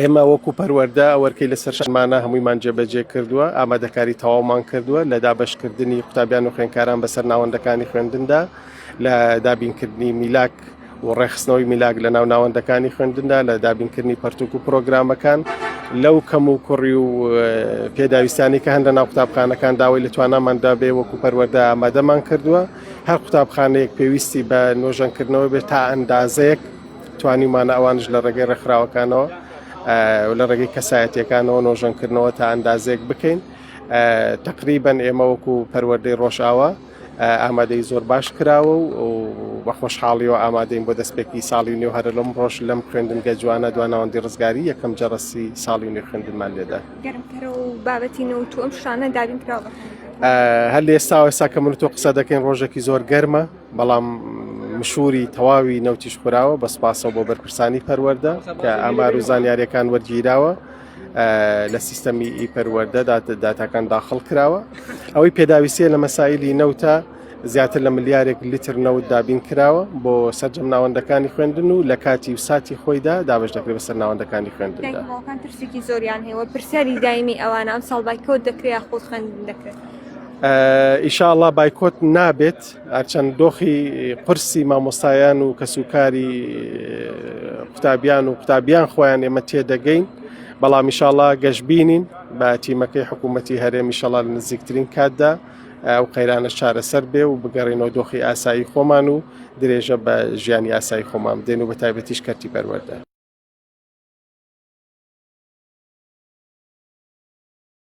ئێمە وەکو پەروەردە ئەوەرکەی لە سەرشمانە هەموویمان جێبەجێ کردووە ئامادەکاری تەواومان کردووە لە دابشکردنی قوتابیان و خوێنکاران بەسەر ناوەندەکانی خوێندندا لە دابینکردنی میلاک و ڕێخستنەوەی میلاک لە ناو ناوەندەکانی خوێندندا لە دابینکردنی پەرتوک و پرۆگرامەکان لەو کەم و کوڕی و پێداویستانی کە هەندە ناو قوتابخانەکان داوای لە تواناماندا بێ وەکو پەروەەردە ئامادەمان کردووە هەر قوتابخانەیەک پێویستی بە نۆژەنکردنەوە بێت تا ئەندازەیەک توانیومانە ئەوانش لە ڕێگەی ڕێکخراوەکانەوە و لە ڕێگەی کەسایەتیەکانەوە نۆژەنکردنەوە تا ئەندازێک بکەین تقریبن ئێمە وەکو پەروەردەی ڕۆژاوە ئامادەی زۆر باش کراوە و بە خۆشحاڵیەوە ئامادەین بۆ دەستپێکی ساڵی نوێ هەر لەم ڕۆژ لەم خوێندنگە جوانە دواناوەندی ڕزگاری یەکەم جەڕسی ساڵی نوێ خوێندنمان لێدا بابەتی نەوت و ئەم شانە دابین کراوە هەر لێستاوە ئێستا کە من تۆ قسە دەکەین ڕۆژێکی زۆر گەرمە بەڵام مشوری تەواوی نەوتیش خوراوە بە سپاسەوە بۆ بەرپرسانی پەروەەردە کە ئامار و زانیاریەکان وەرگیراوە لە سیستەمی ئی پەروەەردەدا داتاکان داخڵ کراوە ئەوەی پێداویستە لە مەسایلی نەوتە زیاتر لە ملیارێک لیتر نەوت دابین کراوە بۆ سەررجەم ناوەندەکانی خوێندن و لە کاتی و ساتی خۆیدا دابش دەکرێت بەسەر ناوەندەکانی خوێندندا پرسێکی زۆریان هەیە پرسیاری دایمی ئەوانە ئەم ساڵ بای کۆت دەکرێت خۆ خوێندن دەکرێت ئیشاءله بایکۆت نابێت هەرچەند دۆخی قرسی مامۆستایان و کەسوکاری قوتابیان و قوتابیان خۆیان ئێمە تێدەگەین بەڵام میشاڵا گەشببینین بە تیمەکەی حکوومەتتی هەرێ میشەڵال نزیکترین کاتدا ئەو قەیرانە چارەسەر بێ و بگەڕێنەوە دۆخی ئاسایی خۆمان و درێژە بە ژیانی ئاسایی خۆمان دێن و بە تایبەتیش کەرتی پەروەەردە